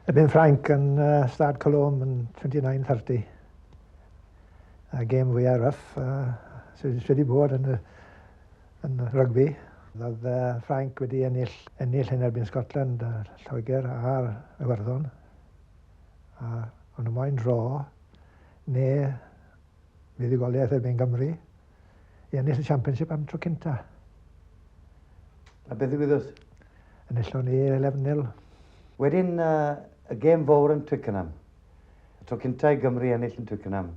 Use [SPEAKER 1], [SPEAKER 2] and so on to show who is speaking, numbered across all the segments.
[SPEAKER 1] Y Ben Frank yn Stad Colom yn 29-30. Y gêm fwyaf rough sydd wedi bod yn, yn rygbi. Roedd Frank wedi ennill, ennill yn erbyn Scotland, Lloegr a'r Iwerddon. A ond y moyn dro neu fuddugoliaeth erbyn Gymru. i ennill y Championship am tro cynta.
[SPEAKER 2] A beth ddigwyddodd? Enillon
[SPEAKER 1] ni 11-0. Wedyn,
[SPEAKER 2] uh, y gêm fawr yn Twickenham. Y tro cynta i Gymru ennill yn Twickenham.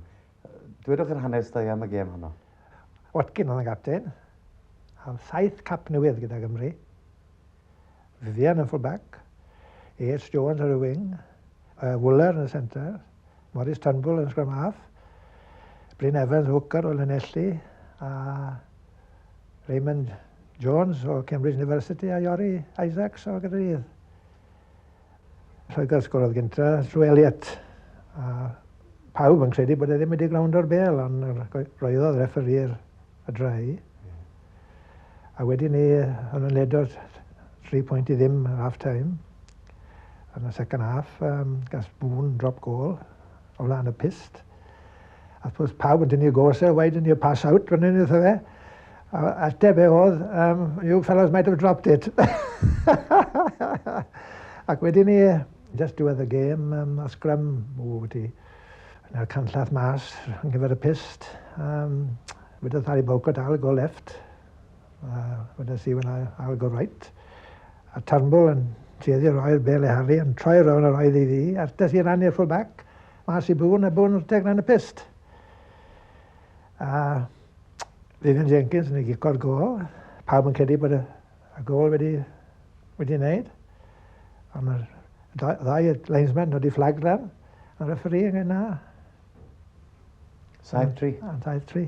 [SPEAKER 2] Dwedwch yr hanes da am y gêm honno. Watkin oedd yn
[SPEAKER 1] gapten. Am saith cap newydd gyda Gymru. Vivian yn full-back, Yates Jones ar y wing, uh, Wooler yn y centre, Morris Turnbull yn scrum half, Bryn Evans hooker o Llanelli, a Raymond Jones o Cambridge University a Iori Isaacs o Gaerdydd. Lloegr sgorodd gynta, Drew Elliott. A pawb yn credu bod e ddim wedi gwrando ar bel, ond roeddodd referi'r y drai. A wedyn ni, hwn yn ledo'r 3 pwynt i ddim ar half time. Yn y second half, um, gas bŵn, drop goal, o flaen y pist. A wrth gwrs, pawb yn dynnu gosau, why didn't you pass out, fan hyn wrtho fe. A ateb fe oedd, um, you fellows might have dropped it. Ac wedyn ni, just do the game, um, a sgrym, o, ti, yna'r canllath mas, yn gyfer y pist. Um, Wedodd Harry Bowco, dal, go left. A wedes i, well, I'll go right. A Turnbull yn tueddu roi'r bel i Harley, yn troi rownd a roedd i fi, a'r des i rannu'r full back, mas i Boon, a Boon rteg lan y pist. A Vivian Jenkins yn ei gico'r gol. Pawb yn credu bod y, y gol wedi, wedi wneud. A mae'r ddau linesman nodi fflag lan. A referi yn yna. Saif tri. Saif tri.